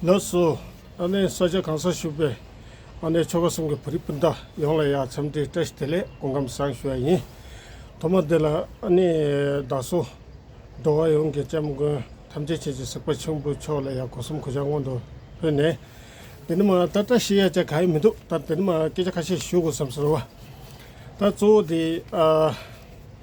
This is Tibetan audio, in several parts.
ལགས་སོ། ཨ་ནེ་ས་སྐྱ་གང་སར་བཞུགས་པའི་ཨ་ནེ་ཆོ་ག་གསུམ་གྱི་བོད་རིགས་སྤུན་ཟླ་ཡོངས་ལ་ཡང་འཚམས་འདྲི་བཀྲ་ཤིས་བདེ་ལེགས་དགོངས་ཁམས་བཟང་ཞུ་བ་ཡིན། ཐོག་མ་འདི་ལ་ཨ་ནེ་བདག་སོ། འགྲོ་བ་ཡོངས་ཀྱི་སྐྱབས་མགོན་ཐམས་ཅད་ཆེ་གཅིག་སེག་པ་ཆེན་པོ་མཆོག་ལ་ཡང་གོ་གསུམ་གོ་ཆ་སྔོན་དུ་ཕུལ་ནས། འདི་ནི་མ་ད་བཀྲ་ཤིས་ཡ་ཅེ་ག་ཡི་མི་འདུག་ད་འདི་ནི་མ་སྐད་ཆ་ཁ་ཤས་ཞུ་དགོས་བསམ་སོང་བ། ད་གཙོ་བོ་དེ།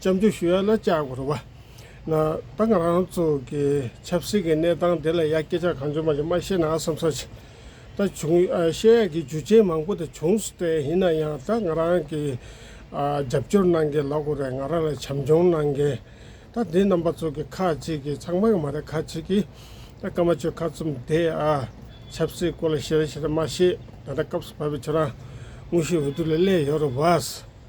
བཅའ་འདྲི་ཞུ་ཡ་ན་བཅའ་དགོས་རུང་བ། ན། ད་ང་རང་ཚོ་གི་ཆབ་སྲིད་ཀྱི་གནས་སྟངས་དེ་ལ་ཡ་སྐད་ཆ་གང་བྱུང་མ་བྱུང་མ་བཤད་ན་བསམ་ཚོད་ཆེ། ད་བྱུང་བཤད་ཡ་གི་རྒྱུ་ཆེན་མང་པོ་དེ་བྱུང་སྟེ་ཡིན་ན་ཡང་ད་ང་རང་གི་རྒྱབ་སྐྱོར་གནང་མཁན་ལ་གོ་རེ་ང་རང་ལ་བྱམས་སྐྱོང་གནང་མཁན་ད་འདི་རྣམ་པ་ཚོ་གི་ཁག་ཅིག་གི་ཚང་མ་ཡང་མ་རེད་ཁག་ཅིག་གི་ད་སྐར་མ་ཆོས་ཁ་ཚུམ་དེ་ཨ། ཆབ་སྲིད་སྐོར་ལ་ཤེས་ར་ཤེས་ར་མ་ཤེས་ད་ལྟ་སྐབས་སུ་བབ་པའི་ཁྱོད་རང་དངོས་གཞི་འོས་བསྡུ་ལ་སླེ་ཡོད་རུང་བ།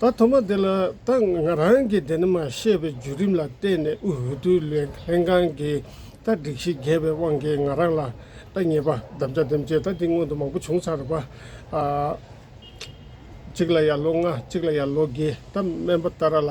ད་ཐོག་མ་དེ་ལ་ད་ང་རང་གིས་དེ་ནི་མ་ཤེས་པའི་བརྒྱུད་རིམ་ལ་བརྟེན་ནས་དབུས་འོས་བསྡུ་ལྷན་ཁང་གི་ད་སྒྲིག་གཞི་བརྒྱད་པའི་དབང་གིས་ང་རང་ལ་ད་ཉེས་པ་བདམས་བྱ་འདེམས་བྱེད་ད་དེ་སྔོན་དུ་མང་པོ་བྱུང་ཚར་བ། གཅིག་ལ་ཡར་ལོ་ལྔ་གཅིག་ལ་ཡར་ལོ་བརྒྱད་ད་སྨན་པ་ཏཱ་ར་ལ།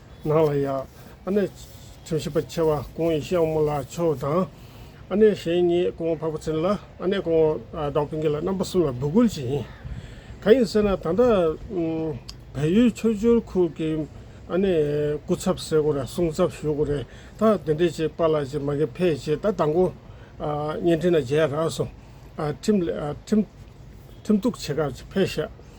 ནང་ལ་ཡང། ཨ་ནེ། ཁྲིམས་ཞིབ་པ་ཆེ་བ་ཀོང་ཡི་ཤིའང་མོ་ལ་ཆོའུ་དང། ཨ་ནེ་གཞན་གཉིས་ཀོང་བྷ་པོ་ཚིན་ལ་ཨ་ནེ་ཀོང་ཀྲའོ་ཕིང་གི་ལ་རྣམ་པ་གསུམ་ལ་འབོད་སྐུལ་བྱེད་ཡིན། གང་ཡིན་ཟེར་ན་ད་ལྟ། བལ་ཡུལ་ཆོས་འབྱོར་ཁུལ་གྱི་ཨ་ནེ་སྐུ་ཚབ་ཟེར་དགོས་རེད་སྲུང་ཚབ་ཞུ་དགོས་རེད་ད་དེ་འདྲས་བྱེད་པ་ལ་ཅིག་མ་གི་ཕས་བྱེད་ད་དང་པོ། བརྙན་འཕྲིན་ལ་མཇལ་རག་སོང། ཁྲིམས། ཁྲིམས་གཏུག་བྱེད་སྐབས་ཕས་བཤད།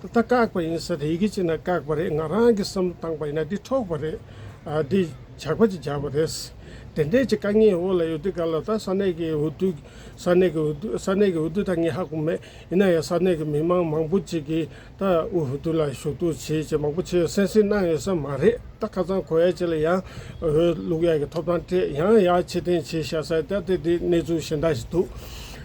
ད་ལྟ་བཀག་པ་ཡིན་ཟེར་ཡི་གེ་གཅིག་ན་བཀག་པ་རེད་ང་རང་གིས་བསམ་བློ་བཏང་པ་ཡིན་ན་འདི་འཕྲོག་པ་རེད། འདི་ཇག་པ་གཅིག་ཇག་པ་རེད། དེ་འདྲའི་གཅིག་དཀའ་ངལ་འོག་ལ་ཡོད་དུས་ག་ལ་ད་ས་གནས་ཀྱི་འོས་བསྡུ། ས་གནས་ཀྱི་འོས་བསྡུ་ས་གནས་ཀྱི་འོས་བསྡུ་ད་ངས་ཧ་གོ་མེད་ཡིན་ན་ཡང་ས་གནས་ཀྱི་མི་མང་མང་པོ་ཅིག་གིས་ད་འོས་བསྡུ་ལ་ཞུ་གཏུག་བྱེད་ཅེས་མང་པོ་ཆེ་གསན་གསིལ་གནང་ཡོད་ས་མ་རེད་ད་ཁ་ཚང་གོ་ཡ་ཅིག་ལ་ཡང་འོས་བླུག་ཡ་གི་ཐོབ་ཐང་སྤྲད་ཡང་ཡང་ཕྱིར་འཐེན་བྱེད་ཤ་ས་ད་དེ་འདི་གནས་ཚུལ་གཞན་དག་ཞིག་འདུག།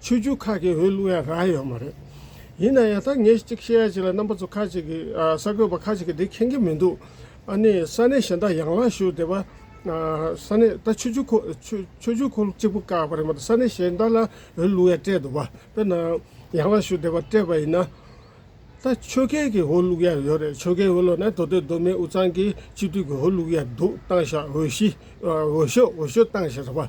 ཆོས་བརྒྱུད་ཁག་གི་འོས་བླུགས་ཡ་རགས་ཡོད་མ་རེད། ཡིན་ན་ཡང་ད་ངས་གཅིག་བཤད་ཡ་གཅིག་ལ་རྣམ་པ་ཚོ་ཁག་གཅིག་གིས་གསར་འགོད་པ་ཁག་གཅིག་གིས་དེ་མཁྱེན་གྱི་མི་འདུག་ཨ་ནི་ས་གནས་གཞན་དག་ཡང་ལངས་ཞུ་དེ་བ་ས་གནས་ད་ཆོས་བརྒྱུད་ཁོ་ཆོས་བརྒྱུད་ཁོ་གཅིག་པུ་བཀག་པ་རེད་མ་ད་ས་གནས་གཞན་དག་ལ་འོས་བླུགས་ཡ་སྤྲད་འདུག་བ་དཔེར་ན་ཡང་ལངས་ཞུ་དེ་བ་སྤྲད་པ་ཡིན་ན། ད་ཆོལ་ཁའི་གི་འོས་བླུགས་ཡ་ཡོད་རེད་ཆོལ་ཁའི་འོས་བླུགས་ན་དོ་དོད་མདོ་སྨད་འུ་ཚང་གི་སྤྱི་འཐུས་གི་འོས་བླུགས་ཡ་འདུག་བཏང་ཞག་འོས་གཞི་འོས་ཤོག་འོས་ཤོག་བཏང་ཞེས་རེད་བ།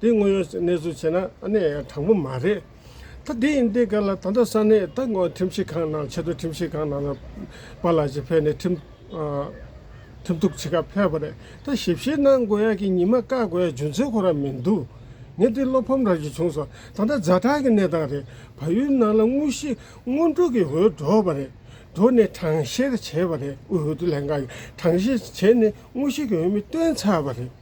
འདི་དངོས་ཡོད་གནས་ཚུལ་བྱས་ན་གནས་ཡང་དྲང་པོ་མ་རེད། ད་དེའི་འདི་ག་ལ་ད་ལྟ་ས་གནས་ད་དགོངས་ཁྲིམས་ཞིབ་ཁང་ནང་ཆེད་དུ་ཁྲིམས་ཞིབ་ཁང་ནང་ལ་པ་ལགས་ཀྱི་ཕེབས་ནས་ཁྲིམས་ཁྲིམས་གཏུགས་བྱེད་ཁ་ཕེབས་པ་རེད་ད་ཞིབ་བཤེར་གནང་དགོས་ཡ་གི་ཉི་མ་བཀག་དགོས་ཡ་རྒྱུ་མཚན་ཁོ་རང་མིན་འདུག་ངས་འདི་བློ་ཕམ་རག་གི་བྱུང་སོང་ད་ལྟ་རྫ་ཐག་གི་གནས་སྟངས་རེད་བལ་ཡུལ་ནང་ལ་དངོས་གཞི་དངོས་སྒྲུབ་ཀྱི་འོས་འགྲོ་བ་རེད་འགྲོ་ནས་གྲངས་བཤེར་བྱས་པ་རེད་འོས་བསྡུ་ལྷན་ཁང་གིས་གྲངས་བཤེར་བྱས་ནས་དངོས་གཞི་གི་འོས་མི་བཏོན་ཚར་བ་རེད།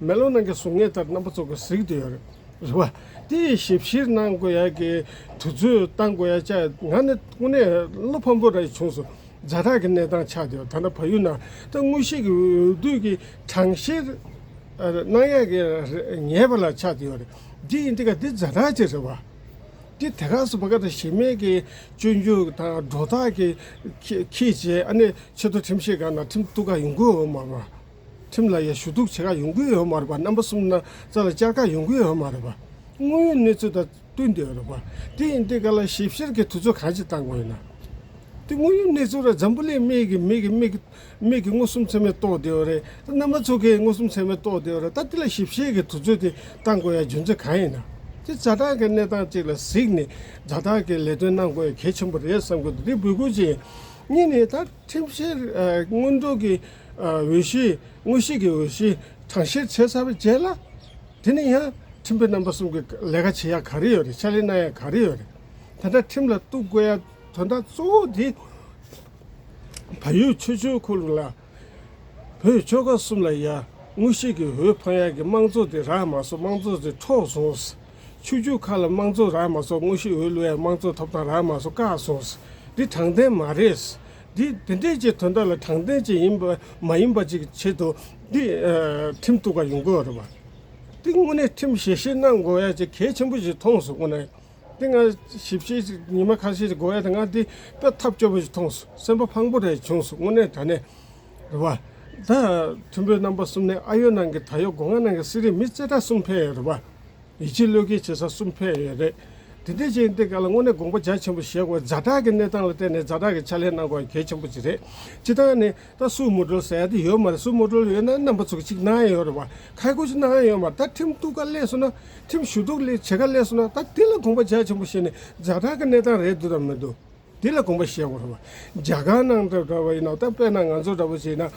མེ་ལོང་ནང་གི་གཟུགས་བརྙན་ལྟར་རྣམ་པ་ཚོགས་ཀྱིས་གཟིགས་དུ་ཡོད་རེད་བ། དེ་ཡི་ཞིབ་བཤེར་གནང་དགོས་ཡ་གི་དུས་ཚོད་གཏང་དགོས་ཡ་ཆ་ང་ནི་དངོས་གནས་བློ་ཕམ་པོ་ར་ཡི་བྱུང་སོང་རྫ་དག་གི་གནས་སྟངས་ཆགས་དུ་ཡོད་ད་ན་བ་ཡུལ་ནང་ད་དངོས་གཞི་གི་འོས་བསྡུ་གི་གྲངས་བཤེར་གནང་ཡ་གི་རེད་ངེས་པ་ལ་ཆགས་དུ་ཡོད་རེད་དེ་ཡིན་དེ་ག་དེ་རྫ་དག་ཅིག་རེད་བ། དེ་དེ་ག་སུ་བ་ག་ད་གཞི་མེད་གི་སྤྱོད་འཇུག་དང་སྒྲོ་ཐག་གི་ཁྱེད་ཀྱིས་ཨ་ནི་ཆེ་མཐོ་ཁྲིམས་བཤེར་གང་ན་ཁྲིམས་གཏུག་ག་ཡོང་གི་འོ་མ་བ། ཁྲིམས་ལ་ཡང་ཞུ་གཏུག་བྱེད་ཁག་ཡོང་གི་ཡོད་མ་རེད་པ་རྣམ་པ་གསུམ་ན་རྩ་ལ་བཅར་ཁག་ཡོང་གི་ཡོད་མ་རེད་པ། དངོས་ཡོད་གནས་ཚུལ་དང་བསྟུན་དེ་རེད་པ། དེ་ཡིན་དེ་ག་ལ་ཞིབ་བཤེར་གྱི་དུས་ཚོད་གང་ཅི་བཏང་དགོས་ཡིན་ན། དེ་དངོས་ཡོད་གནས་ཚུལ་རེད་འཛམ་བུ་གླིང་མིག་གིས་མིག་གིས་མིག་མིག་གིས་མངོན་སུམ་ཚད་མས་རྟོགས་དེ་རེད་ད་རྣམ་པ་ཚོ་གིས་མངོན་སུམ་ཚད་མས་རྟོགས་དེ་རེད་ད་དེ་ལ་ཞིབ་བཤེར་གྱི་དུས་ཚོད་དེ་བཏང་དགོས་ཡ་རྒྱུ་མཚན་གང་ཡིན་ན། དེ་རྩ་ཐང་གི་གནས་སྟངས་གཅིག་ལ་གཟིགས་ནས་རྩ་ཐང་གི་ལས་དོན་གནང་དགོས་ཡ་གལ་ཆེན་པོ་རེད་བསམ་གི་འདུག་དེ་འབུལ་དགོས་ཅི་ཡིན་གཉིས་ནས་ད། ཁྲིམས་བཤེར་དངོས་སྒྲུབ་ཀྱི་འོས་གཞི་དངོས་གཞི་གི་འོས་གཞི་གྲངས་བཤེར་བྱས་ཚར་བའི་རྗེས་ལ། དེ་ནས་ཡང་ཁྲིམས་དཔོན་རྣམ་པ་གསུམ་གྱིས་ལས་ཀ་བྱེད་ཡ་ག་རེ་ཡོད་རེད་ཕྱག་ལས་གནང་ཡ་ག་རེ་ཡོད་རེད། དེ་འདྲ་ཁྲིམས་ལ་གཏུགས་དགོས་ཡ་དོན་དག་གཙོ་བོ་དེ། བལ་ཡུལ་ཆོས་འབྱོར་ཁུ་ལུ་ལ་བོད་ཆོལ་ཁ་གསུམ་ལ་ཡ་དངོས་གཞི་གི་འོས་འཕངས་ཡ་གི་དམངས་གཙོ་དེ་རག་མ་སོང་དམངས་གཙོ་དེ་འཕྲོག་སོང། ཆུ་རྒྱུག་ཁག་ལ་དམངས་གཙོ་རག་མ་སོགས་དངོས་གཞི་འོས་བླུ་ཡང་དམངས་གཙོ་ཐོབ་ཐང་རག་མ་སོགས་བཀག་སོང། འདི་དྲང་བདེན་མ་རེད། འདི་དེ་འདྲས་ཀྱི་དོན་དག་ལ་དྲང་བདེན་ཅིག་ཡིན་པ་མ་ཡིན་པ་ཅིག་ཆེད་དུ་འདི་ཁྲིམས་གཏུག་པ་ཡིན་དགོས་རེད་བ། འདི་དངོས་གནས་ཁྲིམས་ཞིབ་བཤེར་གནང་དགོས་ཡ་ཅིག་གལ་ཆེན་པོ་ཞིག་མཐོང་སོང་ངོ། འདི་ང་ཞིབ་བཤེར་ཅིག་ཉི་མ་ཁ་ཤས་ཀྱི་དགོས་ཡ་དེ་ང་འདི་ལྟ་ཐབས་སྐྱོ་པོ་ཞིག་མཐོང་སོང་སེམས་པ་ཕངས་པོ་རེད་བྱུང་སོང་དངོས་གནས་ད་ནས། རེད་པ། ད་མཐོན་པོའི་རྣམ་པ་གསུམ་ནི་ཨ་ཡོད་ནང་གི་ད་ཡོད་སྒོ་ང་ནང་གི་གསེར་རི་མི་རྩེ་གྲ་གསུམ་འཕེལ་ཡོད་རེད་པ། ཡིད་ཆེས་བློས་འགེལ་བྱེད་ས་གསུམ་འཕེལ་ཡོད་རེད། དེ་འདྲའི་རྗེས་འདེད་འགའ་ལ་དངོས་གནས་དགོངས་པ་རྒྱ་ཆེན་པོ་བཞེས་དགོས་རྫ་བྲག་གི་གནས་སྟངས་ལ་བལྟས་ནས་རྫ་བྲག་གི་ཕྱག་ལས་གནང་དགོས་པ་གལ་ཆེན་པོ་གཅིག་རེད། སྤྱི་བཏང་ནི་ད་སུའུ་མུ་དཀྲོལ་ཟེར་ཡ་དེ་ཡོད་མ་རེད་སུའུ་མུ་དཀྲོལ་ཡོད་ན་རྣམ་པ་ཚུགས་གཅིག་གནང་ཡོད་རེད་པ། ཁ་ཡག་པོ་ཅིག་གནང་ཡོད་མ་རེད་ད་ཁྲིམས་གཏུག་ག་གླས་སོང་ན། ཁྲིམས་ཞུ་གཏུག་བྱེད་ག་གླས་སོང་ན་ད་དེ་ལ་དགོངས་པ་རྒྱ་ཆེན་པོ་བཞེས་ནས་རྫ་བྲག་གི་གནས་སྟངས་རེད་འདུག་དང་མི་འདུག། འདི་ལ་དགོངས་པ་བཞེས་དགོས་རོགས། རྒྱ་གར་ནང་དུ་འདྲ་བ་ཡིན་ནོ་ད་དཔེར་ན་ང་ཚོ་འདྲ་བོ་བྱེད་ན།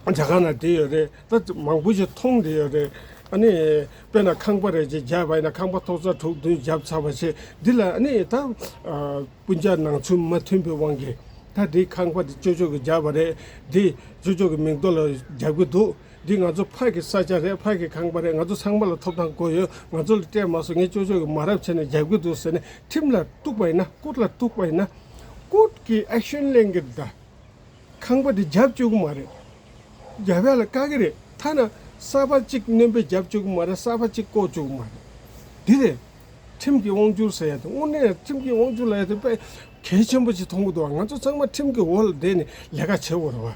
རྒྱ་གར་ནང་དེ་ཡོད་རེད་ད་མང་པོ་ཞིག་མཐོང་དེ་ཡོད་རེད། ཨ་ནི་དཔེར་ན་ཁང་པ་རེ་ཅིག་བརྒྱབ་པ་ཡིན་ན་ཁང་པ་ཐོག་རྩ་དྲུག་བདུན་བརྒྱབ་ཚར་བ་ཆེ་འདི་ལ་ཨ་ནི་ད། སྤུན་ཆ་ནང་ཚུན་མ་མཐུན་པའི་དབང་གིས་ད་དེ་ཁང་པ་དེ་ཅོ་ཅོ་གི་བརྒྱབ་པ་རེད་དེ་ཅོ་ཅོ་གི་མིང་ཐོག་ལ་བརྒྱབ་གི་འདུག་འདི་ང་ཚོ་ཕག་གི་ས་ཆ་རེད་ཕག་གི་ཁང་པ་རེད་ང་ཚོ་ཚང་མ་ལ་ཐོབ་ཐང་དགོས་ཡོད་ང་ཚོ་ལ་སྤྲད་མ་སོང་ངས་ཅོ་ཅོ་གི་མ་རབས་བྱས་ནས་རྒྱབ་གི་འདུག་ཟེར་ནས་ཁྲིམས་ལ་གཏུགས་པ་ཡིན་ན་ཀུར་ལ་གཏུགས་པ་ཡིན་ན། ཀུར་གྱི action གླེང་གི་གདའ། ཁང་པ་དེ་རྒྱབ་བཅུག་གི་མ་རེད། རྒྱ་བལ་ལ་བཀག་གི་རེད་ཐ་ན་གསར་པ་གཅིག་བསྣོན་པའི་རྒྱབ་བཅུག་གི་མ་རེད་གསར་པ་གཅིག་བསྐོ་བཅུག་གི་མ་རེད། འདི་རེད། ཁྲིམས་ཀྱི་དབང་བསྒྱུར་ཟེར་ཡ་དེ་དངོས་གནས་ཁྲིམས་ཀྱི་དབང་བསྒྱུར་ལ་ཡ་དེ་དཔེ་གལ་ཆེན་པོ་ཅིག་མཐོང་གི་འདུག་ང་ཚོ་ཚང་མ་ཁྲིམས་ཀྱི་འོག་ལ་བསྡད་ནས་ལས་ཀ་བྱེད་དགོས་རེད་བ།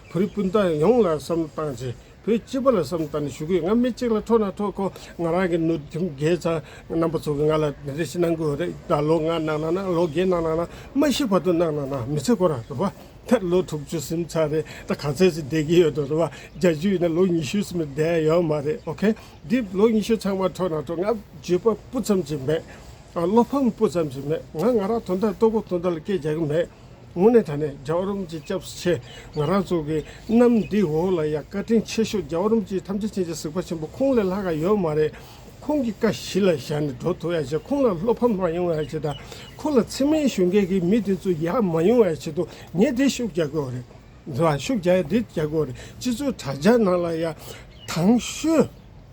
བོད་རིགས་སྤུན་ཟླ་ཡོངས་ལ་བསམ་བློ་བཏང་རྗེས་བོད་སྤྱི་པ་ལ་བསམ་བཏང་ནས་ཞུ་གི་ང་མི་གཅིག་ལ་འཕྲོ་ན་འཕྲོ་གོ་ང་རང་གི་ནུ་ཐིམ་རྒྱལ་ཚ་རྣམ་པ་ཚོ་གི་ང་ལ་དེ་འདྲ་ཞིག་གནང་གི་ཡོད་རེད་ད་ལོ་ལྔ་གནང་ན་གནང་ལོ་བརྒྱད་གནང་ན་གནང་མ་ཤི་བར་དུ་གནང་ན་གནང་མི་ཚེ་འཁོར་ར་རེད་བ་ད་ལོ་དྲུག་ཅུ་སུམ་ཆ་རེད་ད་ག་ཚད་ཅིག་བསྡད་ཀྱི་ཡོད་འདུག་རེད་བ་བརྒྱ་ཅུ་ཡིན་ན་ལོ་ཉི་ཤུ་སུམ་བསྡད་ཡོད་མ་རེད་ཨོ་ཁེ་འདི་ལོ་ཉི་ཤུ་ཚང་མ་འཕྲོ་ན་འཕྲོ་ང་བརྗོད་པ་སྤུ་ཙམ་ཅིག་མེད་བློ་ཕམ་སྤུ་ཙམ་ཅིག་མེད་ང་ང་རང་དོན་དག་ལྟོ་གོས་དོན་དག་ལ་སྐད་རྒྱག་གི་མེད། དངོས་གནས་ད་ནས་རྒྱ་བ་རོམ་གྱི་སྐྱབས་ཆེ་ང་རང་ཚོ་གི་གནམ་འདི་འོག་ལ་ཡང་བཀའ་དྲིན་ཆེ་ཤོས་རྒྱ་བ་རོམ་གྱི་ཐམས་ཅད་ཅན་གྱི་གཟིགས་པ་ཆེན་པོ་ཁོང་ལས་ལྷག་ག་ཡོད་མ་རེད་ཁོང་གི་བཀའ་བཞི་ལ་བཞག་ནས་འགྲོ་ཐུབ་ཡ་ཆེད་ཁོང་ལ་བློ་ཕམ་མ་ཡོང་ཡ་ཆེད་དང་ཁོང་ལ་འཚེ་མེད་གཞོན་སྐྱེས་ཀྱི་མི་དེ་ཚོ་ཡ་མ་ཡོང་ཡ་ཆེད་དུ་ངས་དེ་ཤུགས་རྒྱག་གི་རེད་ཤུགས་རྒྱག་ཡ་རེད་རྒྱག་གི་རེད་སྤྱི་ཚོགས་དྲ་རྒྱ་ནང་ལ་ཡ་ཐང་ཤོད།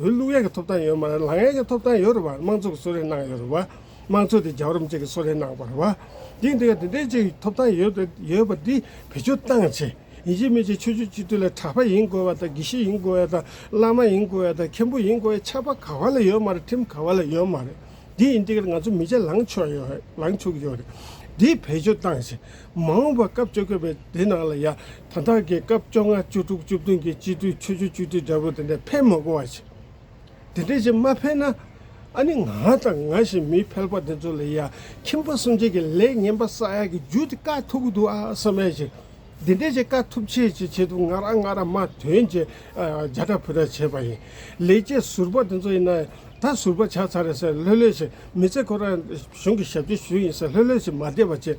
འོས་བླུགས་ཡས་ཀྱི་ཐོབ་ཐང་ཡོད་མ་རེད་ལངས་ཡས་ཀྱི་ཐོབ་ཐང་ཡོད་རེད་བ་དམངས་གཙོ་གི་གསོལ་རས་གནང་ཡོད་རེད་བ་དམངས་གཙོ་དེ་རྒྱ་རོམ་ཅིག་གི་གསོལ་རས་གནང་བ་རེད་བ་དེ་འདི་ག་དེ་འདྲས་ཅིག་ཐོབ་ཐང་ཡོད་རེད་ཡོད་བ་འདི་བེད་སྤྱོད་སྟངས་ཆེ་ཡིན་གཅིག་མིན་གཅིག་ཆོས་རྒྱུད་སྤྱི་འཐུས་ལ་གྲ་པ་ཡིན་དགོས་བ་དང་དགེ་བཤེས་ཡིན་དགོས་བ་དང་བླ་མ་ཡིན་དགོས་བ་དང་མཁན་པོ་ཡིན་དགོས་བའི་ཆ་པ་ག་བ་ལ་ཡོད་མ་རེད་ཁྲིམས་ག་བ་ལ་ཡོད་མ་རེད་དེ་ཡིན་འདི་ག་ང་ཚོ་མི་ཆ་ལངས་ཆོག་ཡོད་རེད་ལངས་ཆོག་གི་ཡོད་རེད་འདི་བེད་སྤྱོད་སྟངས་ཆེ་མ་འོངས་པར་སྐབས་བཅོ་བརྒྱད་པའི་དེ་ནང་ལ་ཡང་དང་དག་གིས་སྐབས་བཅོ་ལྔ་བཅུ་དྲུག་བཅུ་བདུན་གྱི་སྤྱི་འཐུས་ཆོས་བརྒྱུད་བཅུ་དྲུག་འདྲ་བོ་དེ་འདྲ་ཕན་མ་གོ་བ་བྱེད། དེ་འདྲ་བྱེད་མ་ཕན་ན། ཨ་ནི་ང་དང་ང་བཞིན་མི་ཕལ་པ་དེ་ཚོ་ལ་ཡང་ཁྱིམ་པ་སུམ་བརྒྱད་ཀྱི་ལས་ངན་པ་ས་ཡ་གི་རྒྱུ་དེ་བཀག་ཐུབ་ཀྱི་འདུག་ཨ་ས་མས་ཅིག་འདི་འདྲ་བྱེད་བཀག་ཐུབ་ཆེད་ཅིག་བྱེད་ཐུབ་ང་རང་ང་རང་མ་དོན་ཅིག་རྒྱ་ཕྲ་ཕུ་ཕྲ་བྱེད་པ་ཡིན་ལས་བྱེད་ཟུར་པ་དེ་ཚོ་ཡིན་ན་ད་ཟུར་པ་ཆགས་ཚར་རེད་ཟེར་ལྷོད་ལྷོད་ཅིག་མི་ཚེ་ཁོ་རང་གཞུང་གི་ཞབས་ཕྱི་ཞུ་ཡིན་ཟེར་ལྷོད་ལྷོད་ཅིག་མ་བསྡད་པ་བྱེད།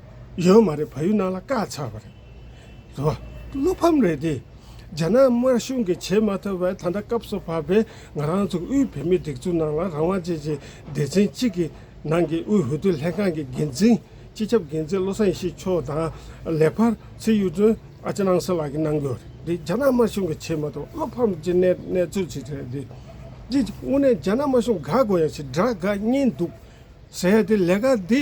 ཡོད་མ་རེད་བ་ཡུལ་ནང་ལ་བཀག་ཚར་བ་རེད་དེ་བ། བློ་ཕམ་རེད་དེ། རྒྱ་ནག་དམར་གཞུང་གིས་བྱེད་མ་ཐུབ་པའི་ད་ལྟ་སྐབས་སུ་བབས་པའི་ང་རང་ཚོ་དབུས་བོད་མིའི་སྒྲིག་འཛུགས་ནང་ལ་རང་དབང་ཅན་གྱི་སྡེ་ཚན་གཅིག་གི་ནང་གི་དབུས་བོད་དོན་ལྷན་ཁང་གི་འགན་འཛིན་སྤྱི་ཁྱབ་འགན་འཛིན་བློ་བཟང་ཡེ་ཤེས་མཆོག་དང་ལེགས་པར་ཚེ་གཡུ་སྒྲོན་ཨ་ཅེ་ནང་སེ་ལགས་ཀྱིས་གནང་རྒྱུ་རེད་དེ་རྒྱ་ནག་དམར་གཞུང་གིས་བྱེད་མ་ཐུབ་པ་བློ་ཕམ་གྱི་གནས་གནས་ཚུལ་ཅིག་རེད་དེ། དེ་དངོས་གནས་རྒྱ་ནག་དམར་གཞུང་དགའ་དགོས་ཡ་ཞིག་དགྲ་དགའ་གཉིས་འདུག་ཟེར་ཡ་དེ་ལས་ཀ་འདི།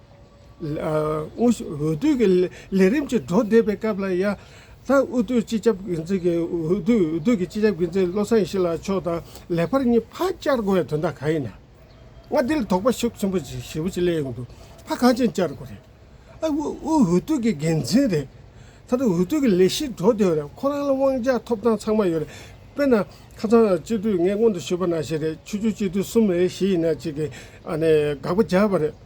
དབུས་འོས་བསྡུ་གི་ལས་རིམ་གྱི་འགྲོ་བསྡད་པའི་སྐབས་ལ་ཡང་རྩ་དབུས་བསྡུའི་སྤྱི་ཁྱབ་འགན་འཛིན་གྱིས་འོས་བསྡུའི་འོས་བསྡུ་གི་སྤྱི་ཁྱབ་འགན་འཛིན་བློ་བཟང་ཞི་ལགས་མཆོག་དང་ལས་འཕར་གཉིས་ཕར་བཅར་དགོས་བའི་དོན་དག་གང་ཡིན་ནམ། མངའ་སྡེ་ལ་དོགས་པ་ཤུགས་ཆེན་པོ་ཞེ་བོ་ཅིག་སླེབས་ཡོང་དུས་ཕར་གང་ཅན་བཅར་དགོས་རེད། ཨ་དབུས་འོས་བསྡུ་གི་འགན་འཛིན་རེད། མཐའ་དོན་འོས་བསྡུ་གི་ལས་གཞི་འགྲོ་བསྡད་རེད་ཁོ་རང་ལ་དབང་ཆ་ཐོབ་ཐང་ཚང་མ་ཡོད་རེད། དཔེར་ན་ཁ་སང་སྤྱི་འཐུས་ངས་སྔོན་དུ་ཞུས་པ་ནང་བཞིན་རེད་ཆུ་ཆུ་སྤྱི་འཐུས་གསུམ་རེད་བཞི་ཡིན་ན་གཅིག་གིས་དགག་པ་རྒྱག་པ་རེད།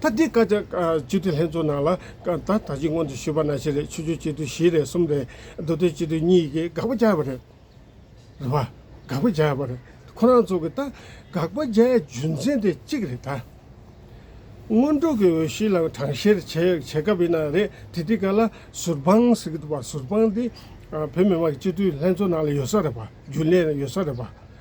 ད་ལྟའི་བཀའ་ཆ་སྤྱི་འཐུས་ལྷན་ཚོགས་ནང་ལ་ད་ལྟ་ཕྱི་སྔོན་དུ་ཞུས་པ་ནང་བཞིན་རེད་ཆོས་རྒྱུད་སྤྱི་འཐུས་བཞི་རེད་གསུམ་རེད་མདོ་སྟོད་སྤྱི་འཐུས་གཉིས་ཀྱིས་དགག་པ་བྱས་པ་རེད། རེད་བ། དགག་པ་བྱས་པ་རེད། ཁོ་རང་ཚོ་གི་ད་དགག་པ་བྱས་རྒྱུ་མཚན་དེ་གཅིག་རེད་ད། སྔོན་འགྲོ་གི་འོས་གཞི་ལ་གྲངས་བཤེར་བྱེད་བྱེད་སྐབས་ཡིན་ན་རེད་དེ་དེ་ག་ལ་ཟུར་དཔང་ཟེར་གི་འདུག་བ་ཟུར་དཔང་དེ་བོད་མི་མང་གི་སྤྱི་འཐུས་ལྷན་ཚོགས་ནང་ལ་ཡོད་ས་རེད་བ་རྒྱུན་ལས་ཡོད་ས་རེད་བ།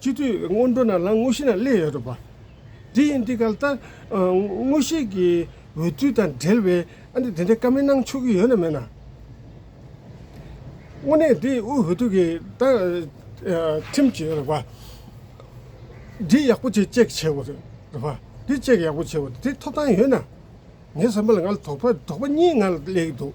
སྤྱི་འཐུས་སྔོན་འགྲོ་རྣམས་ལ་དངོས་གཞི་རྣམས་གླས་ཡོད་དོ་པ། འདི་ཡིན་འདི་གལ་ལྟ། དངོས་གཞི་གི་འོས་བསྡུ་དང་འབྲེལ་བའི་ཨ་འདི་འདི་འདྲའི་བཀའ་མི་གནང་ཆོག་གི་ཡོད་ན་མེད་ན། དངོས་གནས་འདི་དབུས་འོས་བསྡུ་གི་ཁྲིམས་བྱས་ཡོད་པ། འདི་ཡག་པོ་བྱས་ཅེས་བྱས་ཡོད་པ། འདི་བཅས་ཡག་པོ་བྱས་ཡོད་པ་འདི་ཐོབ་ཐང་ཡོད་ན། ངའི་བསམ་པ་ལ་ང་ལ་དོགས་པ་དོགས་པ་གཉིས་ང་ལ་གླས་ཀྱི་འདུག།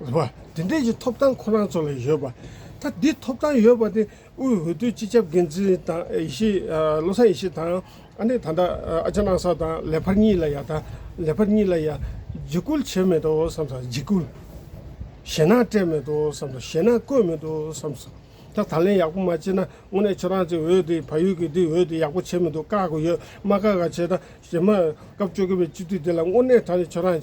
བ། དེ་འབྲེལ་གྱི་ཐོབ་ཐང་ཁོ་རང་ཚོ་ལ་ཡོད་པ། ད་འདི་ཐོབ་ཐང་ཡོད་པ་དེ་དབུས་འོས་བསྡུའི་སྤྱི་ཁྱབ་འགན་འཛིན་དང་ཡེ་ཤེས་བློ་བཟང་ཡེ་ཤེས་དང་ཨ་ནེ་ད་འདྲ་ཨ་ཅག་ནང་སོག་དང་ལེ་བྷར་གཉིས་ལ་ཡང་ད་ལེ་བྷར་གཉིས་ལ་ཡང་འཇིགས་སྐུལ་བྱས་མེད་དོ་བསམ་སོང་འཇིགས་སྐུལ་ཞེ་ནང་སྤྲད་མེད་དོ་བསམ་སོང་ཞེ་ནང་བཀོད་མེད་དོ་བསམ་སོང་ད་ད་ལན་ཡག་པོ་མ་བྱེད་ན་དངོས་གནས་ཁྱོད་རང་ཚོའི་འོས་དེ་བལ་ཡུལ་གྱི་འདི་འོས་དེ་ཡག་པོ་བྱེད་མི་འདུག་བཀག་གི་ཡོད་མ་བཀག་ག་བྱེད་ད་རྗེས་མ་སྐབས་བཅོ་བརྒྱད་པའི་སྤྱི་འཐུས་དེ་ལ་དངོས་གནས་ད་ནི་ཁྱོད་རང་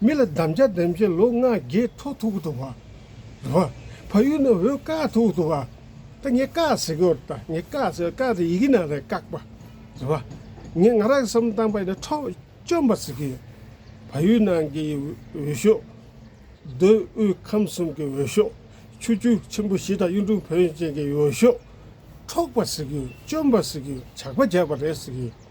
མི་ལ་དམ་བཅའ་འདེམས་བྱེད་ལུག་ལྔ་བརྒྱའི་ཐོག་ཐུག་གི་འདུག་བ། བ། ཕ་ཡུལ་ན་འོད་དཀར་ཐུག་གི་འདུག་བ། ད་ངས་དཀར་ཟེར་གི་འོད་ད་ངས་དཀར་ཟེར་དཀར་དེ་ཡི་གེ་ནང་རེད་བཀག་པ། བ། ངས་ང་རང་གི་སེམས་བཏང་པ་ཡིན་ན་འཕྲོག་བཅོམ་པ་ཟེར་གི་ཡོད། ཕ་ཡུལ་ནང་གི་འོད་ཤོག། རྡོའི་དབུས་ཁམས་གསུམ་གྱི་འོད་ཤོག། ཆུ་རྒྱུན་ཆེན་པོ་བཞི་དང་གཡུང་དྲུང་བོན་ཅན་གྱི་འོད་ཤོག། འཕྲོག་པ་ཟེར་གི་ཡོད་བཅོམ་པ་ཟེར་གི་ཡོད་ཇག་པ་བརྒྱབ་པ་རེད་ཟེར་གི་ཡོད།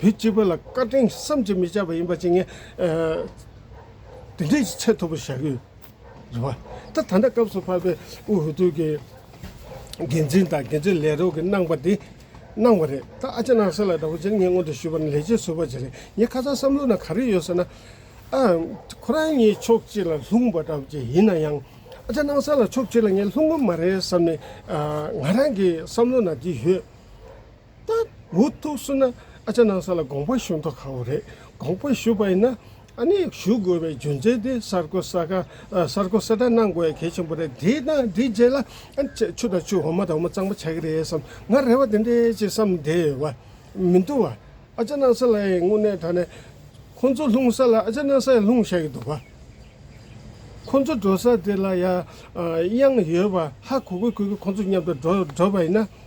བོད་སྤྱི་པ་ལ་བཀའ་དྲིན་བསམ་གྱིས་མི་ཁྱབ་པ་ཡིན་པ་བྱིན་ངེས། དེ་འདྲའི་ཆེས་མཐོ་པོ་བྱ་དགོས། རེད་བ། ད་ད་ལྟ་སྐབས་སུ་བབས་པའི་དབུས་ཧུར་ཐུག་གི་འགན་འཛིན་དང་འགན་འཛིན་ལས་རོགས་ཀྱི་གནང་བ་དེ་གནང་བ་རེད། ད་ཨ་ཅེ་ནང་སེ་ལ་འདྲ་བོ་བྱིན་ངེས་སྔོན་དུ་ཞུས་པ་ནི་ལས་བྱེད་ཟུར་བ་ཅིག་རེད། ངས་ཁ་ཚ་བསམ་བློ་ན་ག་རེ་ཡོད་ཟེར་ན། ཨ། ཁོ་རང་ཉིད་ཕྱོགས་གཅིག་ལ་ལྷུང་བ་འདྲ་བོ་ཅིག་ཡིན་ན་ཡང། ཨ་ཅེ་ནང་སེ་ལ་ཕྱོགས་གཅིག་ལ་ངས་ལྷུང་གི་མ་རེད་བསམ་ནས། ང་རང་གི་བསམ་བློ་ན་དེ་ཡོད། ཏག་འུ་ཐུག་སུ་ན་ཨ་ཅག་ནང་ས་ལ་དགོངས་པ་ཞུ་མདོག་ཁ་བོ་རེད་དགོངས་པ་ཞུ་པ་ཡིན་ན་ཨ་ནི་ཞུ་དགོས་པའི་རྒྱུ་མཚན་དེ་གསར་གོ་ས་ག་གསར་གོ་གསལ་བསྒྲགས་གནང་དགོས་ཡ་གལ་ཆེན་པོ་རེད་དེས་ན་དེའི་རྗེས་ལ་ཨ་ནི་ཆེ་ཆུ་དང་ཆུ་འོ་མ་དང་འོ་མ་གཙང་པོ་ཆགས་ཀྱི་རེད་བསམ་ང་རེ་བ་དེ་འདྲས་ཅེས་བསམ་བསྡད་ཡོད་པ་མི་འདུག་བ་ཨ་ཅག་ནང་ས་ལ་ཡི་དངོས་གནས་དྲ་ནས་ཁོང་ཚོ་ལྷུང་ས་ལ་ཨ་ཅག་ནང་ས་ཡི་ལྷུང་བཞག་གི་འདུག་བ་ཁོང་ཚོ་འགྲོ་ས་དེ་ལ་ཡ་དབྱངས་ཡོད་པ་ཧ་གོ་གོ་གོ་གི་ཁོང་ཚོ་མཉམ་དུ་འགྲོ་འགྲོ་པ་ཡིན་ན།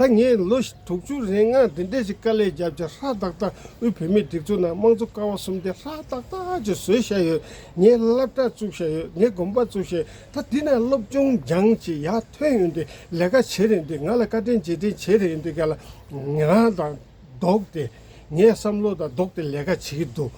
ད་ངས་ལོ་དྲུག་ཅུ་རེའི་སྔ་འདི་འདྲས་ཅིག་དཀའ་ལས་བརྒྱབ་ཅིང་ཧྲ་ཏག་ཏག་དབུས་བོད་མིའི་སྒྲིག་འཛུགས་ནང་དམངས་གཙོ་ཀ་བ་གསུམ་དེ་ཧྲ་ཏག་ཏག་ཅིག་བཟོས་བཞག་ཡོད་ངས་བསླབ་གྲྭ་བཙུགས་བཞག་ཡོད་ངས་དགོན་པ་བཙུགས་བཞག་ཡོད་ད་འདི་ན་སློབ་སྦྱོང་སྦྱང་ཅིག་ཡག་ཐོན་ཡོད་འདུག་ལས་ཀ་བྱེད་རན་འདུག་ང་ལ་བཀའ་དྲིན་རྗེས་དྲིན་བྱེད་རན་འདུག་ག་ལ་ང་དང། ལྡོག་སྟེ། ངས་བསམ་བློ་དང་ལྡོག་སྟེ་ལས་ཀ་བྱེད་ཀྱི་འདུག།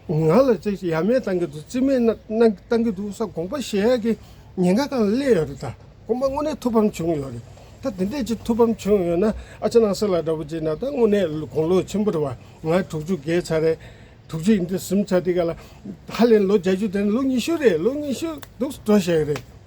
ང་ལ་ཅི་ཞིག་ཡ་མེད་བཏང་གི་འདུག་རྩིས་མེད་བཏང་གི་འདུག་ས་དགོངས་པ་བཞེས་ཡག་གི་ཉེན་ཁ་གང་སླེབས་ཡོད་རེད་ད། དགོངས་པ་དངོས་གནས་ཐུགས་ཕམ་བྱུང་ཡོད་རེད་ད། དེ་འདྲའི་ཅིག་ཐུགས་ཕམ་བྱུང་ཡོད་ན་ཨ་ཅེ་ནང་སེ་ལ་འདྲ་པོ་བྱས་ན་ད་དངོས་གནས་དགུང་ལོ་ཆེན་པོ་རེད་བ། ང་དྲུག་ཅུ་བརྒལ་ཚར་རེད། དྲུག་ཅུ་ཡིན་དུས་གསུམ་ཆ་དེ་ག་ལ། ཧ་ལས་ལོ་བརྒྱ་ཅུ་དེ་ནི་ལོ་ཉི་ཤུ་རེད་ལོ་ཉི་ཤུ་འདུག་འགྲོ་ཞེས་རེད།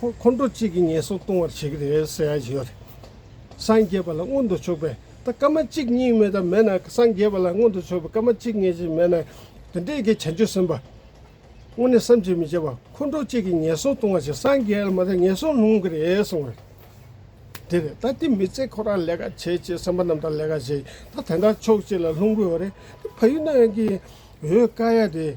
ཁོང་ཁོང་ཁྲོ་གཅིག་གིས་ངན་སོང་ལྟུང་བར་བྱེད་ཀྱི་རེད་ཟེར་ཡག་ཡོད་རེད། སངས་རྒྱས་པ་ལ་མངོན་དུ་ཕྱོགས་པའི་ད་སྐར་མ་གཅིག་གཉིས་མེད་ད་མེད་ན་སངས་རྒྱས་པ་ལ་མངོན་དུ་ཕྱོགས་པའི་སྐར་མ་གཅིག་ངེས་ཅན་མེད་ན་དེ་འདྲའི་གི་བྱང་ཆུབ་སེམས་དཔའ་དངོས་གནས་བསམ་གྱིས་མི་ཁྱབ་པ་ཁོང་ཁྲོ་གཅིག་གིས་ངན་སོང་ལྟུང་བར་བྱེད་སངས་རྒྱས་ལ་མ་ད་ངན་སོང་ལྷུང་གི་རེད་གསུང་བ་རེད། དེ་རེད་ད་དེ་མི་ཚེ་ཁོ་རང་ལས་ཀ་བྱེད་ཅེས་སེམས་པ་རྣམས་དང་ལས་ཀ་བྱེད་ད་དེ་འདྲ་ཕྱོགས་གཅིག་ལ་ལྷུང་དགོས་བ་རེད་དེ་ཕ་ཡུལ་ན་ཡང་གི་འོས་དཀའ་ཡ་དེ།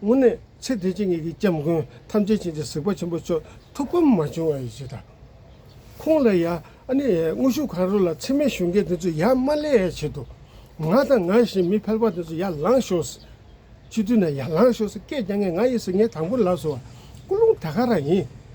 སྔོན་ནས་ཚེ་འདས་ཀྱི་ངེད་ཀྱི་སྐྱབས་མགོན་ཐམས་ཅད་ཅན་གྱི་གཟིགས་པ་ཆེན་པོ་མཆོག་ཐུགས་ཕམ་མ་བྱུང་བ་ཡིན་ཞེས་དང། ཁོང་ལ་ཡང་ཨ་ནི་དངོས་ཤུགས་གང་རུང་ལ་འཚེ་མེད་ཞུ་མཁན་དེ་ཚོས་ཡ་མ་བསླད་ཡ་བྱེད་དོ། ང་དང་ང་བཞིན་མི་ཕལ་པ་དེ་ཚོ་ཡར་ལངས་ཤོགས། སྤྱི་འཐུས་ན་ཡར་ལངས་ཤོགས་སྐད་རྒྱག་མཁན་ང་ཡིན་ཟེར་མཁན་དང་པོ་ལགས་སོ། སྐུ་རླུང་ད་ག་རང་ཡིན།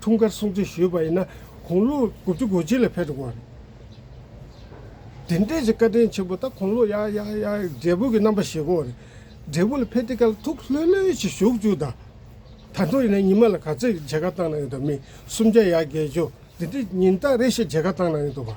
འཁྲུངས་སྐར་སྲུང་བརྩི་ཞུས་པ་ཡིན་ན་གུང་ལོ་དགུ་བཅུ་གོ་གཅིག་ལ་ཕེབས་འགྲོ་དགོས་པ་རེད། དེ་འདྲའི་ཞིག་བཀའ་དྲིན་ཆེན་པོ་ད་གུང་ལོ་ཡ་ཡ་ཡ་འབྲས་བུ་གི་རྣམ་པ་ཞིག་གོ་རེད། འབྲས་བུ་ལ་ཕེབས་དུས་ཀ་ལ་ཐུགས་ལྷོད་ལྷོད་ཅིག་བཞུགས་བཅུག་ད། ད་དུང་ཡིན་ན་ཉི་མ་ལ་ག་ཚོད་མཇལ་ཁ་བཏང་གནང་ཡོད་དོ་མི་སུམ་བརྒྱ་ཡ་བརྒྱད་བཅུ་འདི་འདྲའི་ཉིན་རྟགས་རེ་ཞིག་མཇལ་ཁ་བཏང་གནང་ཡོད་དོ་བ།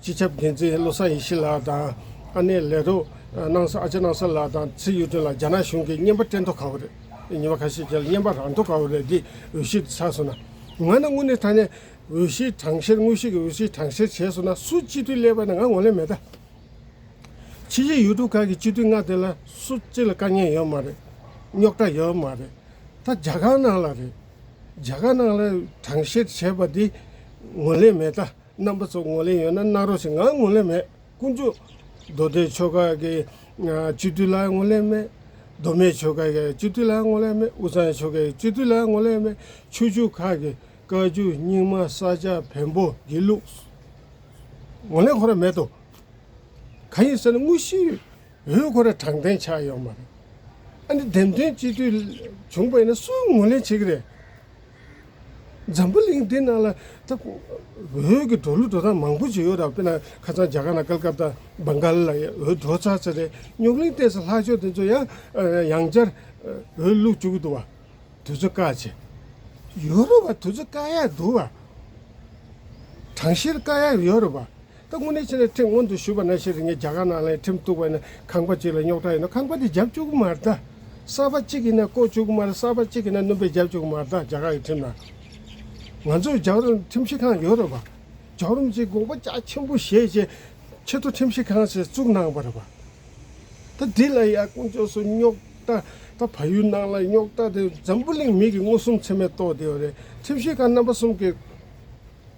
སྤྱི་ཁྱབ་འགན་འཛིན་བློ་བཟང་ཡེ་ཤེས་ལགས་དང་ཨ་ནེ་ལས་རོགས་གནང་ས་ཨ་ཅེ་གནང་ས་ལགས་དང་ཚེ་ཡུས་ཀྲེང་ལགས་རྒྱ་ནག་གཞུང་གིས་བརྙན་པར་སྤྲད་མདོག་ག་བོ་རེད། ཉིན་པ་ཁ་ཤས་ཁྱེད་ལ་བརྙན་པར་རག་མདོག་ག་བོ་རེད་འདི་འོས་གཞིར་ཆགས་སོང་ན། ང་ནི་དངོས་གནས་ད་ནས་འོས་གཞིའི་གྲངས་བཤེར་དངོས་གཞི་གི་འོས་གཞིའི་གྲངས་བཤེར་བྱས་སོང་ན་སུ་སྤྱི་འཐུས་སླེབས་པ་ནི་ང་ངོ་ལེན་མེད་ད། ཕྱི་རྒྱལ་ཡུལ་གྲུ་ཁག་གི་སྤྱི་འཐུས་ལྔ་དེ་ལ་སུ་གཅིག་ལ་དཀའ་ངལ་ཡོད་མ་རེད། རྙོག་དྲ་ཡོད་མ་རེད། ད་རྒྱ་གར་ནང་ལ་རེད། རྒྱ་གར་ནང་ལ་གྲངས་བཤེར་བྱས་པ་འདི་ངོ་ལེན་མེད་ད། རྣམ་པ་སོགས་ངོ་ལེན་ཡོད་ན་གནང་རོགས་ཞེས་ངའང་ངོ་ལེན་མེད་དཀོན་མཆོག། མདོ་སྡེའི་ཆོས་སྐོར་གྱི་སྤྱི་འཐུས་ལའང་ངོ་ལེན་མེད། མདོ་སྨད་ཆོས་སྐོར་གྱི་སྤྱི་འཐུས་ལའང་ངོ་ལེན་མེད་དབུས་གཙང་ཆོས་སྐོར་གྱི་སྤྱི་འཐུས་ལའང་ངོ་ལེན་མེད་ཆོས་ཕྱུག་ཁག་གི་བཀའ་བརྒྱུད་རྙིང་མ་ས་སྐྱ་བོན་པོ་དགེ་ལུགས། ངོ་ལེན་ཁོ་ར་མེད་དོ། གང་ཡིན་ཟེར་ན་དངོས་གཞིའི་འོས་ཁོ་ར་དྲང་བདེན་ཆགས་ཡོད་མ་རེད། ཨ་ནི་འདེམས་ཐོན་སྤྱི་འཐུས་བྱུང་པ་ཡིན་ན་སུའི་ངོ་ལེན་བྱེད་ཀྱི་རེད། འཛམ་བུ་གླིང་འདི་ནང་ལ་ད་འོད་ཀྱི་འགྲོ་ལུགས་འགྲོ་སྟངས་མང་པོ་ཞིག་ཡོད་ར་དཔེར་ན་ཁ་ཚང་རྒྱ་གར་ན་ཀལ་ཀབ་ཏ་སྦན་གྷལ་ལ་ཡང་འོད་འགྲོ་ཚར་ཚར་རེད་རྙོག་གླིང་སྟེང་སོ་ལྷག་ཆོས་དེ་ཚོ་ཡང་ཡང་བསྐྱར་འོད་བླུགས་བཅུག་གི་འདུག་བ་དེ་ཚོ་དཀའ་ཆེ། ཡོད་རེད་བ་དེ་ཚོ་དཀའ་ཡག་འདུག་བ། གྲངས་བཤེར་དཀའ་ཡག་ཡོད་རེད་བ། ད་དངོས་གནས་ཕྱི་ནས་ཁྲིམས་མངོན་དུ་ཞུས་པ་ན་ཤི་རི་ངས་རྒྱ་གར་ནང་ལའི་ཁྲིམས་གཏུགས་པ་ནི་ཁང་པ་གཅིག་ལ་རྙོག་དྲ་ཡོད་ན་ཁང་པ་དེ་རྒྱབ་བཅུག་གི་མ་རེད། གསར་པ་གཅིག་གིས་ནས་བརྐོ་བཅུག་གི་མ་རེད་གསར་པ་གཅིག་གིས་ནས་སྣུམ་པས་རྒྱབ་བཅུག་གི་མ་རེད་རྒྱ་གར་གྱི་ཁྲིམས་ནང། ང་ཚོར་རྒྱ་གར་ཁྲིམས་ཞིབ་ཁང་ཡོད་རེད་པ། རྒྱ་གར་མི་ཚོས་དགོངས་པ་རྒྱ་ཆེན་པོ་བཞེས་རྗེས་ཆེད་དུ་ཁྲིམས་ཞིབ་ཁང་ཞིག་བཙུགས་གནང་བ་རེད་པ། ད་འདི་ལ་ཡང་དཀོན་མཆོག་སུ་རྙོག་དྲ་ད་ཕ་ཡུལ་ནང་ལ་རྙོག་དྲ་དེ་འཛམ་བུ་གླིང་མིག་གིས་མངོན་སུམ་ཚད་མས་རྟོགས་བསྡད་ཡོད་རེད་ཁྲིམས་ཞིབ་ཁང་རྣམ་པ་གསུམ་གིས།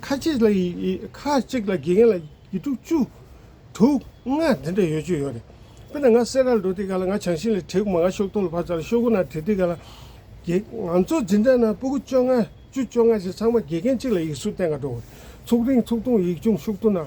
ཁ་ཅིག་ལ་དགེ་རྒན་ལ་ཡི་དྲུག་བཅུ། དྲུག་ལྔ་དེ་འདྲ་ཡོད་ཅུ་ཡོད་རེད། དཔེར་ན་ང་སེར་རར་འགྲོ་དུས་ག་ལ་ང་བྱང་ཤིང་ལ་དྲེག་དགུ་མ་ང་ཤོག་ཐོག་ལ་བབས་ཚར་ལ་ཤོག་གུ་ན་དྲེག་དུས་ག་ལ། ང་ཚོ་འཛིན་གྲྭ་ན་སྤུ་གུ་བཅོ་ལྔ་བཅུ་བཅོ་ལྔ་ཞིག་ཚང་མ་དགེ་རྒན་གཅིག་ལ་ཡིག་གཟུགས་གཏན་འགའ་འགྲོ། ཚུགས་རིང་ཚུགས་ཐུང་ཡིག་ཆུང་ཤུགས་ཐུང་ན་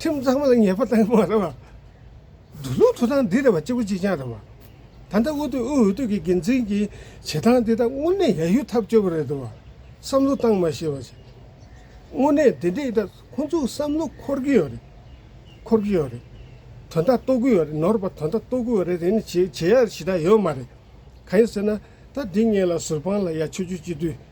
ཁྲིམས་གཙང་མ་ལ་ཉེས་པ་གཏང་གི་མ་རེད་བ། འདུ་ལུང་ཐུགས་སྟངས་འདི་རེད་བ་གཅིག་པོ་གཅིག་རྐྱང་རེད་བ། ད་ལྟ་དབུས་སྟོད་དབུས་འོས་སྟོད་ཀྱི་འགན་འཛིན་གྱི་བྱེད་སྟངས་འདི་དག་དངོས་གནས་ཡ་ཡུ་ཐབས་སྐྱོ་བ་རེད་བ། བསམ་བློ་གཏང་མ་ཤེས་བ་ཞིག། དངོས་གནས་འདི་འདྲས་དག་ཁོང་ཚོ་བསམ་བློ་འཁོར་གྱི་ཡོད་རེད། འཁོར་གྱི་ཡོད་རེད། དོན་དག་རྟོགས་གི་ཡོད་རེད་ནོར་བ་དོན་དག་རྟོགས་གི་ཡོད་རེད་དེ་ནི་བྱེད་བྱེད་ཡ་ཞིག་དག་ཡོད་མ་རེད། གང་ཡིན་ཟེར་ན་ད་འདི་ངེད་ལ་ཟུར་དཔང་ལ་ཡ་ཆོས་རྒྱུད་སྤྱི་འཐུས།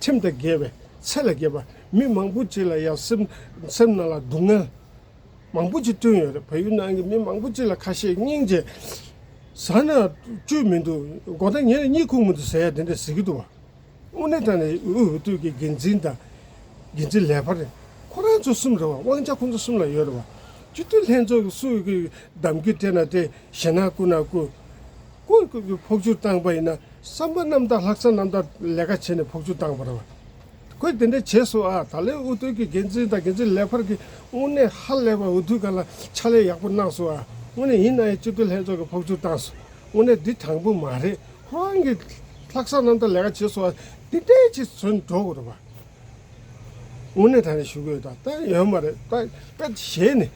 ཁྲིམས་དང་འགལ་བའི་ཚད་ལ་བརྒལ་བ། མི་མང་པོ་ཅིག་ལ་ཡང་སེམས་ནང་ལ་སྡུག་བསྔལ་མང་པོ་ཅིག་བསྐྲུན་ཡོད་རེད། བལ་ཡུལ་ནང་གི་མི་མང་པོ་ཅིག་ལ་ཁ་ཤས་སྙིང་རྗེ་ཟ་ན་བཅོས་མི་འདུག་མགོ་ཟླ་ངས་གཉིད་ཁུག་མི་འདུག་ཟེར་ཡ་དེ་འདྲ་ཟེར་གྱི་འདུག་བ། དངོས་གནས་ད་ནི་དབུས་འོས་བསྡུ་གི་འགན་འཛིན་དང་འགན་འཛིན་ལས་འཕར་རེད། ཁོ་རང་ཚོ་གསུམ་རེད་བ་དབང་ཆ་ཁོ་ཚོ་གསུམ་ལ་ཡོད་རེད་བ། སྤྱི་འཐུས་ལྷན་ཚོགས་ཀྱི་སུ་གི་གདམ་གྱི་སྤྲད་ན་སྤྲད་བཞེད་ན་བསྐུར་ན་བསྐུར། བཀོད་བསྐོས་པའི་ཕོགས་ཆུ་བཏང་པ་ཡིན་ན་བསམ་པ་རྣམ་དག་ལྷག་བསམ་རྣམ་དག་ལས་ཀ་བྱས་ནས་ཕོགས་ཆུ་བཏང་བ་རེད། ཁོས་དེ་འདྲ་བྱས་སོང་ཨ་ད་ལོའི་འུ་ཐུག་གི་འགན་འཛིན་དང་འགན་འཛིན་ལས་འཕར་གྱི་དངོས་གནས་ཧ་ལས་པ་འུ་ཐུག་ག་ལ་ཕྱག་ལས་ཡག་པོ་གནང་སོང་ཨ་དངོས་གནས་ཡིན་ན་ཡང་སྤྱི་བདེ་ལྷན་ཚོགས་ཀྱི་ཕོགས་ཆུ་བཏང་སོང་དངོས་གནས་འདི་དྲང་པོ་མ་རེད་ཁོ་རང་གི་ལྷག་བསམ་རྣམ་དག་ལས་ཀ་བྱས་སོང་ཨ་འདི་འདྲའི་ཆེད་བཟོས་ནས་འགྲོ་དགོས་རེད་པ་དངོས་གནས་ད་ནས་ཞུ་གི་ཡོད་ད་ལྟ་ཡོད་མ་རེད་ད་ག་གཞན་ནས་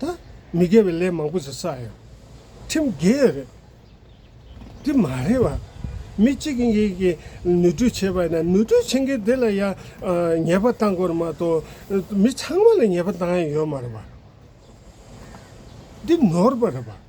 ད་མི་དགེ་བའི་ལས་མང་པོ་ཞིག་བསགས་ཡོད། ཁྲིམས་དགེ་ཡོད་རེད། དེ་མ་རེད་བ། མི་གཅིག་གིས་གཉིས་ཀྱིས་ནུས་འཁྲུལ་བྱས་པ་ན་ནུས་འཁྲུལ་བྱེད་མཁན་དེ་ལ་ཡང་ཉེས་པ་བཏང་དགོས་མ་གཏོགས་མི་ཚང་མ་ལ་ཉེས་པ་བཏང་ཡོད་མ་རེད་བ། འདི་ནོར་བ་རེད་བ།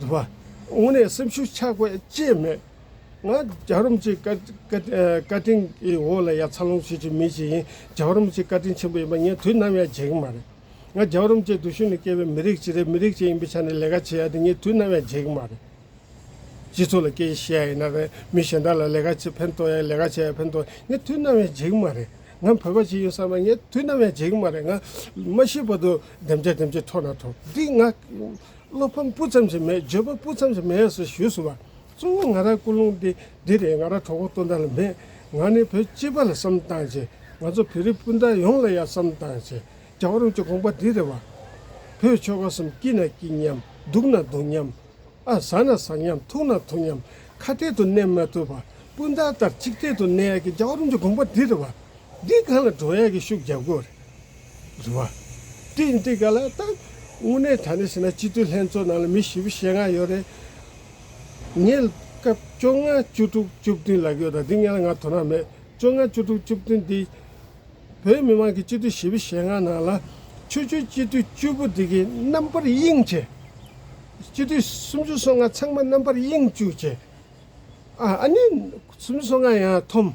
བཟོད་པ། དངོས་གནས་སེམས་ཤུགས་ཆག་པའི་རྐྱེན་མེད། ང་རྒྱ་རོམ་གྱི་བཀའ་དྲིན་གྱི་འོག་ལ་ཡ་མཚར་ལོངས་སྤྱོད་ཀྱི་མི་ཞིག་ཡིན། རྒྱ་རོམ་གྱི་བཀའ་དྲིན་ཆེན་པོ་ཡིན་པ་ངས་དུས་ནམ་ཡང་བརྗེད་གི་མ་རེད། ང་རྒྱ་རོམ་གྱི་རྡུལ་ཤུན་ནས་སྐྱེས་པའི་མི་རིགས་གཅིག་རེད་མི་རིགས་གཅིག་ཡིན་པའི་ཆ་ནས་ལས་ཀ་བྱེད་ཡ་དེ་ངས་དུས་ནམ་ཡང་བརྗེད་གི་མ་རེད། སྤྱི་ཚོགས་ལ་སྐད་ཡིག་ཤེས་ཡ་ཡིན་ན་རེད་མི་གཞན་དག་ལ་ལས་ཀ་བྱེད་ཕན་ཐོག་ཡ་ལས་ཀ་བྱེད་ཡ་ཕན་ཐོག་ངས་དུས་ནམ་ཡང་བརྗེད་གི་མ་རེད། ང་བོད་པ་ཞིག་ཡིན་བསམ་པ་ངས་དུས་ནམ་ཡང་བརྗེད་གི་མ་རེད་ང་མ་ཤི་བར་དུ་བདེན་བྱ་བདེན་བྱེད་འཕྲོག་ན་འཕྲོག་འདི་ང་བློ་ཕམ་སྤུ་ཙམ་ཞིག་མེད་འགྱོད་པ་སྤུ་ཙམ་ཞིག་མེད་ཟེར་ཞུས་སོང་བ། གཙོ་བོ་ང་རང་སྐུ་རླུང་འདི་འདི་རེད་ང་རང་གྲོགས་པོ་སྟོན་ཟླ་ལ་མེད། ང་ནི་བོད་སྤྱི་པ་ལ་བསམ་བཏང་བྱས། ང་ཚོ་བོད་རིགས་སྤུན་ཟླ་ཡོངས་ལ་ཡང་བསམ་བཏང་བྱས། རྒྱ་གར་རུ་ཅོ་དགོངས་པ་འདི་རེད་བ། བོད་ཆོལ་ཁ་གསུམ་སྐྱིད་ན་སྐྱིད་མཉམ་སྡུག་ན་སྡུག་མཉམ། ཨ་ཟ་ན་ཟ་མཉམ་ཐུག་ན་ཐུག་མཉམ་ཁ་གཏད་དུ་གནས་མ་ཐུབ་བ། སྤུན་ཟླ་ལྟར་གཅིག་གཏད་དུ་གནས་ཡག་གི་རྒྱ་གར་རུ་ཅོ་དགོངས་པ་འདི་རེད་བ། འདི་གང་ལ་འགྲོ་ཡག་གི་ཤུགས་རྒྱབ་དགོས་རེད། བཟོ་བ། ཏིན་ཏི་ག་ལ་དང། དངོས་གནས་ད་ནས་ཟེར་ན་སྤྱི་འཐུས་ལྷན་ཚོགས་ནང་ལ་མི་བཞི་བཞི་ཞེ་ལྔ་ཡོད་རེད། ངས་སྐབས་བཅོ་ལྔ་བཅུ་དྲུག་བཅུ་བདུན་ལ་ཡོད་དང་འདི་ངན་ལ་ང་དོ་སྣང་མེད། བཅོ་ལྔ་བཅུ་དྲུག་བཅུ་བདུན་འདི་བོད་མི་མང་གི་སྤྱི་འཐུས་བཞི་བཞི་ཞེ་ལྔ་ནང་ལ། ཆོས་ཆོས་སྤྱི་འཐུས་བཅུ་པོ་འདི་གི་རྣམ་པར་དབྱིངས་ཆེ། སྤྱི་འཐུས་སུམ་ཅུ་སོ་ལྔ་ཚང་མ་རྣམ་པར་དབྱིངས་བཅུ་ཆེ། ཨ་ཨ་ནི་སུམ་ཅུ་སོ་ལྔ་ཡང་ཐོམས།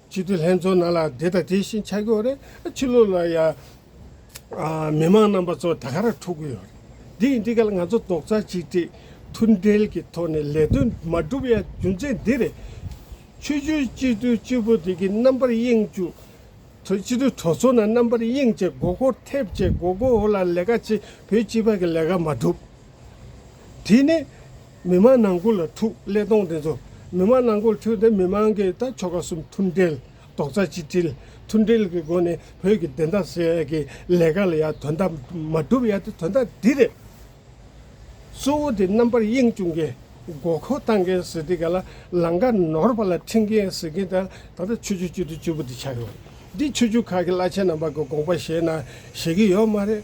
སྤྱི་འཐུས་ལྷན་ཚོགས་ནང་ལ་དེ་དང་དེ་བཞིན་ཆགས་ཀྱི་ཡོད་རེད། ཕྱི་ལོགས་ལ་ཡང་མི་མང་རྣམ་པ་ཚོ་དར་ཁ་ར་འཕྲོག་གི་ཡོད་རེད། དེ་ཡིན་དུས་ཀ་ལ་ང་ཚོ་རྡོག་རྩ་གཅིག་སྒྲིལ་མཐུན་སྒྲིལ་གྱི་ཐོག་ནས་ལས་དོན་མ་སྒྲུབ་ཡ་རྒྱུ་མཚན་འདི་རེད། ཆོས་བརྒྱུད་སྤྱི་འཐུས་གཅིག་པོ་དེ་གི་རྣམ་པར་གཡེང་བཅུག་ཐོས་སྤྱི་འཐུས་གྲོགས་ཚོ་ན་རྣམ་པར་གཡེང་བྱས་མགོ་སྐོར་ཐེབས་བྱས་མགོ་སྐོར་འོག་ལ་ལས་ཀ་བྱས་བོད་སྤྱི་པ་གི་ལས་ཀ་མ་སྒྲུབ་དེ་ནི། མི་དམངས་ནང་ཁུལ་ལ་ཐུགས་ཀླད་གཏོང་དེ་ཚོ་མི་དམངས་ནང་ཁུལ་ཁྲོད་དེ་མི་དམངས་ཀྱིས་ད་ཆོ་ག་གསུམ་མཐུན་སྒྲིལ་རྡོག་རྩ་གཅིག་སྒྲིལ་མཐུན་སྒྲིལ་གྱི་སྒོ་ནས་བོད་ཀྱི་བདེན་མཐའ་སེལ་ཡ་གྱི་ལས་ཀ་ལ་ཡ་དོན་དག་མ་སྒྲུབ་ཡ་དེ་དོན་དག་འདི་རེད། གཙོ་བོ་དེ་རྣམ་པར་གཡེང་བཅུག་མཁན་མགོ་སྐོར་བཏང་མཁན་ཟེར་དེ་ག་ལ་ལང་ཀ་ནོར་བ་ལ་འཁྲིད་མཁན་ཟེར་མཁན་དེ་ད་ལྟ་ཆོས་རྒྱུད་བཅུ་དྲུག་བཅུ་པོ་དེ་ཆགས་ཡོད་རེད་འདི་ཆོས་རྒྱུད་ཁག་གི་བླ་ཆེན་རྣམ་པ་གི་དགོངས་པ་བཞེས་ན་བཞེས་ཀྱི་ཡོད་མ་རེད་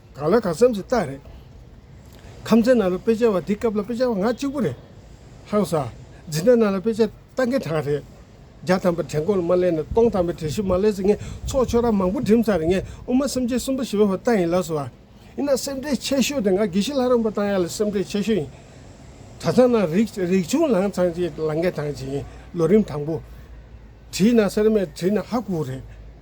གང་ལ་གང་འཚམས་ཀྱི་རྟགས་རེད། ཁམས་ཚན་ནང་ལ་དཔེ་ཆ་བ་འདི་སྐབས་ལ་དཔེ་ཆ་བ་ང་གཅིག་པུ་རེད། ཧང་ས། འཛིན་གྲྭ་ནང་ལ་དཔེ་ཆ་ལྟ་མཁན་གྲངས་རེད། བརྒྱ་ཐམ་པ་དྲན་གོ་ལ་མ་གླས་ནས་སྟོང་ཐམ་པའི་དྲན་ཤུགས་མ་གླས་ཚེ་ངས་ཚོགས་ཆོས་ར་མང་པོ་འགྲིམས་ཚར་རེད་ངས་དབུ་མ་སེམས་ཅན་གསུམ་པ་ཞི་བའི་བ་ལྟ་ཡིན་ལགས་སོ། ཡིན་ན་སེམས་ཁྲལ་ཆེ་ཤོས་དེ་ང་དགེ་བཤེས་ལྷ་རམས་པ་བཏང་ཡག་ལ་སེམས་ཁྲལ་ཆེ་ཤོས་ཡིན། གྲྭ་ཚང་ནང་རིག་རིག་ཆུང་ལངས་ཚང་ཅིག་ལངས་མཁན་གྲངས་ཅིག་ཡིན་ལོ་རིམ་དང་པོ། བྲིས་ན་སེར་སྨད་བྲིས་ན་ཧ་གོ་རེད།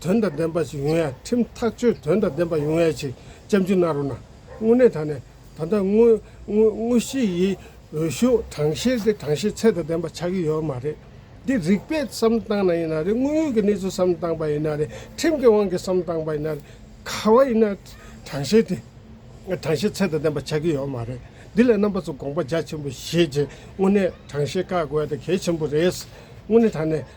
དོན་དང་ལྡན་པ་ཞིག་ཡོང་ཡ་ཁྲིམས་ཐག་གཅོད་དོན་དང་ལྡན་པ་ཡོང་ཡ་ཆེ་ལྕམ་རྒྱུ་ན་རོ་ན་དངོས་གནས་ད་ནས་ད་ལྟ་དངོས་གཞི་ཡི་འོས་ཤོག་གྲངས་བཤེར་དེ་གྲངས་བཤེར་ཚད་དང་ལྡན་པ་ཆགས་ཀྱི་ཡོད་མ་རེད་འདི་རིགས་པས་བསམ་བློ་བཏང་ན་ཡིན་ན་རེད་དངོས་ཡོད་ཀྱི་གནས་ཚུལ་བསམ་བློ་བཏང་པ་ཡིན་ན་རེད་ཁྲིམས་ཀྱི་དབང་གིས་བསམ་བློ་བཏང་པ་ཡིན་ན་རེད་ག་བ་ཡིན་ན་གྲངས་བཤེར་དེ་གྲངས་བཤེར་ཚད་དང་ལྡན་པ་ཆགས་ཀྱི་ཡོད་མ་རེད་འདི་ལ་རྣམ་པ་ཚོ་དགོངས་པ་རྒྱ་ཆེན་པོ་བཞེས་རྗེས་དངོས་གནས་གྲངས་བཤེར་བཀག་དགོས་ཡ་དེ་གལ་ཆེན་པོ་རེད་དངོས་གནས་ད་ནས།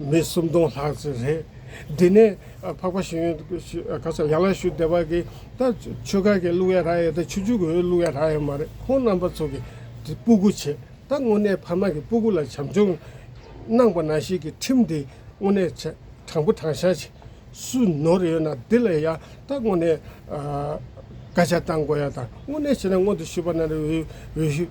མི་གསུམ་སྟོང་ལྷག་ཙམ་རེད། འདི་ནས་འཕགས་པ་ཞིང་ག་ས་ཡང་ལ་ཞུ་བདེ་བ་གི་ད་ཆོས་ཁ་གི་གླུ་ཡ་ར་ཡ་ད་ཆོས་ཆོས་གོའི་གླུ་ཡ་ར་ཡ་མ་རེད་ཁོང་རྣམ་པ་ཚོ་གི་སྤུ་གུ་ཆེ་ད་དངོས་གནས་ཕ་མ་གི་སྤུ་གུ་ལ་བྱམས་སྐྱོང་གནང་པ་ན་ཞིག་གི་ཁྲིམས་འདི་དངོས་གནས་དྲང་པོ་དྲང་བཞག་བྱེད་སུ་ནོར་ཡོད་ན་འདི་ལ་ཡ་ད་དངོས་གནས་སྐ་ཆ་བཏང་དགོས་ཡ་ད་དངོས་གནས་བྱེད་ན་སྔོན་དུ་ཞུ་བ་ན་རེ་འོས་ཤིག།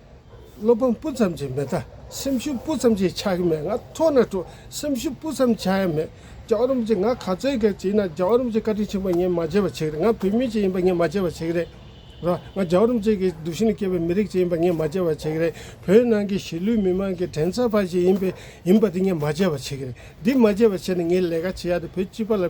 བློ་ཕམ་སྤུ་ཙམ་གྱིས་མི་ཐ་སེམས་ཤུགས་སྤུ་ཙམ་གྱིས་ཆགས་ཀྱི་མེད་ང་ཐོག་ན་སྤྲོ་སེམས་ཤུགས་སྤུ་ཙམ་ཆགས་ཡ་མེད་རྒྱ་རོམ་གྱིས་ང་ག་ཚོད་ག་བྱས་ན་རྒྱ་རོམ་གྱིས་བཀའ་དྲིན་ཆེན་པོ་ངས་མ་བྱས་པ་ཆེ་གི་རེད་ང་བོད་མི་གཅིག་ཡིན་པ་ངས་མ་བྱས་པ་ཆེ་གི་རེད་ར་ང་རྒྱ་རོམ་གཅིག་གི་སྡུག་ཤིང་ནས་སྐྱེས་པའི་མི་རིགས་གཅིག་ཡིན་པ་ངས་མ་བྱས་པ་ཆེ་གི་རེད་བོད་ནང་གི་གཞིས་ལུས་མི་མང་གི་དྲན་ཚ་བ་ཞིག་ཡིན་པའི་ཡིན་པ་དེ་ངས་མ་བྱས་པ་ཆེ་གི་རེད་འདི་མ་བྱས་པ་ཆེ་ན་ངས་ལས་ཀ་བྱེད་ཡ་དེ་བོད་སྤྱི་པ་ལ།